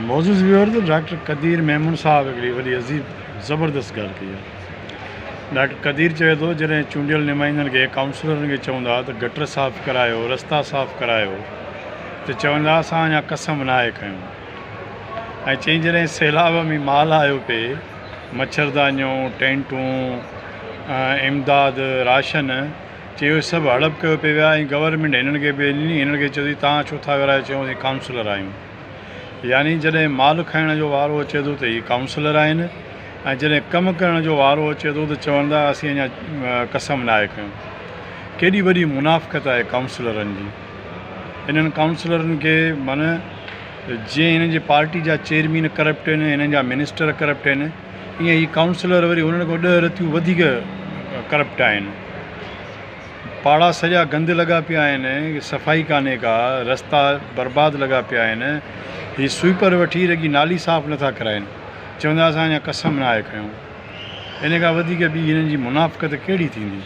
معزز viewers doctor Qadeer Memon صاحب هڪڙي وڏي عظيم زبردست ڳالهه ڪئي آهي ڊاڪٽر قدير چوي ٿو جڏهن چونڊيل نمائندن کي ڪائونسلرن کي چوندا ته گٽر صاف ڪرايو رستا صاف ڪرايو ته چوندا اسان اڃا قسم ناهي کنيو ۽ چئين جڏهن سيلاب ۾ مال آيو پئي مڇردانيون ٽينٽون امداد راشن چي اهي سڀ هڙپ ڪيو پئي ويا ۽ گورنمينٽ هنن کي به ڏني، هنن کي چيو ٿي توهان ڇو ٿا ورايو چيو اسين ڪائونسلر آهيون يعني جڏهن مال کائڻ جو وارو اچي ٿو ته هي ڪائونسلر آهن ۽ جڏهن ڪم ڪرڻ جو وارو اچي ٿو ته چون ٿا اسين اڃا قسم ناهي کنيو ڪيڏي وڏي منافقت آهي ڪائونسلرن جي هنن ڪائونسلرن کي من جي هنن جي پارٽي جا چيئرمين ڪرپٽ آهن هنن جا منسٽر ڪرپٽ آهن ايئن هي ڪائونسلر وري هنن کان ڏهه رٿيون وڌيڪ ڪرپٽ آهن. پاڙا سڄا گند لڳا پيا آهن، صفائي ڪانهي ڪا، رستا برباد لڳا پيا آهن، هي سوئيپر وٺي رڳي نالي صاف نٿا ڪرائين، چوندا اسان اڃا قسم ناهي کنيو. ان کان وڌيڪ ٻي هنن جي منافقت ڪهڙي ٿيندي؟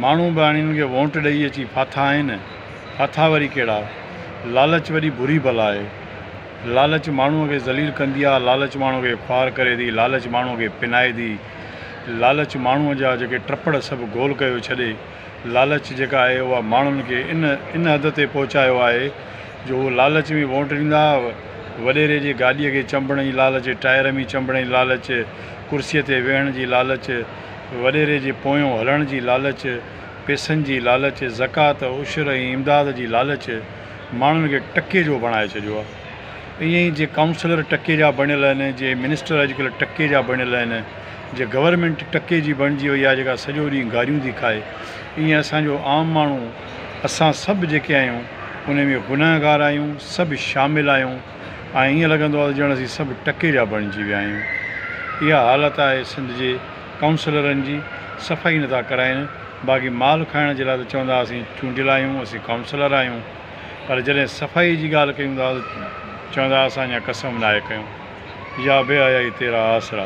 ماڻهو به هاڻي هنن کي وونٽ ڏئي اچي ڦاٿا آهن، ڦاٿا وري ڪهڙا؟ لالچ وڏي بري بلا آهي. لالچ ماڻهوء کي ذليل ڪندي آ، لالچ ماڻهوء کي خوار ڪري ٿي، لالچ ماڻهوء کي پنائي ٿي، لالچ ماڻهوء جا جيڪي ٽپڙ سڀ گول ڪيو ڇڏي، لالچ جيڪا آهي اها ماڻهن کي ان ان حد تي پهچايو آهي جو هو لالچ ۾ وونٽ ڏيندا، وڏيري جي گاڏيء کي چنبڻ جي لالچ، ٽائر ۾ چنبڻ جي لالچ، ڪرسيء تي ويهڻ جي لالچ، وڏيري جي پويون هلڻ جي لالچ، پئسن جي لالچ، زڪوات، عشر ۽ امداد جي لالچ. ماڻهن کي ٽڪي جو بڻائي ڇڏيو آ ائين ئي جي ڪائونسلر ٽڪي جا بڻيل آهن جي منسٽر اڄڪلهه ٽڪي جا بڻيل آهن جي گورمينٽ ٽڪي جي بڻجي وئي آ جيڪا سڄو ڏينهن گاريون ٿي کائي ائين اسان جو عام ماڻهو اسان سڀ جيڪي آهيون انهي ۾ گنهگار آهيون سڀ شامل آهيون ۽ ائين لڳندو آ ته ڄڻ اسين سڀ ٽڪي جا بڻجي ويا آهيون اها حالت آهي سنڌ جي ڪائونسلرن جي صفا ئي نٿا ڪرائين باقي مال کائڻ جي لاء ته چوندا اسين چونڊيل آهيون اسين ڪائونسلر آهيون پر جڏهن صفائي جي ڳالهه ڪيون ٿا ته چوندا اسان اڃا قسم ناهي کنيو يا بي حيائي تيرا آسرا.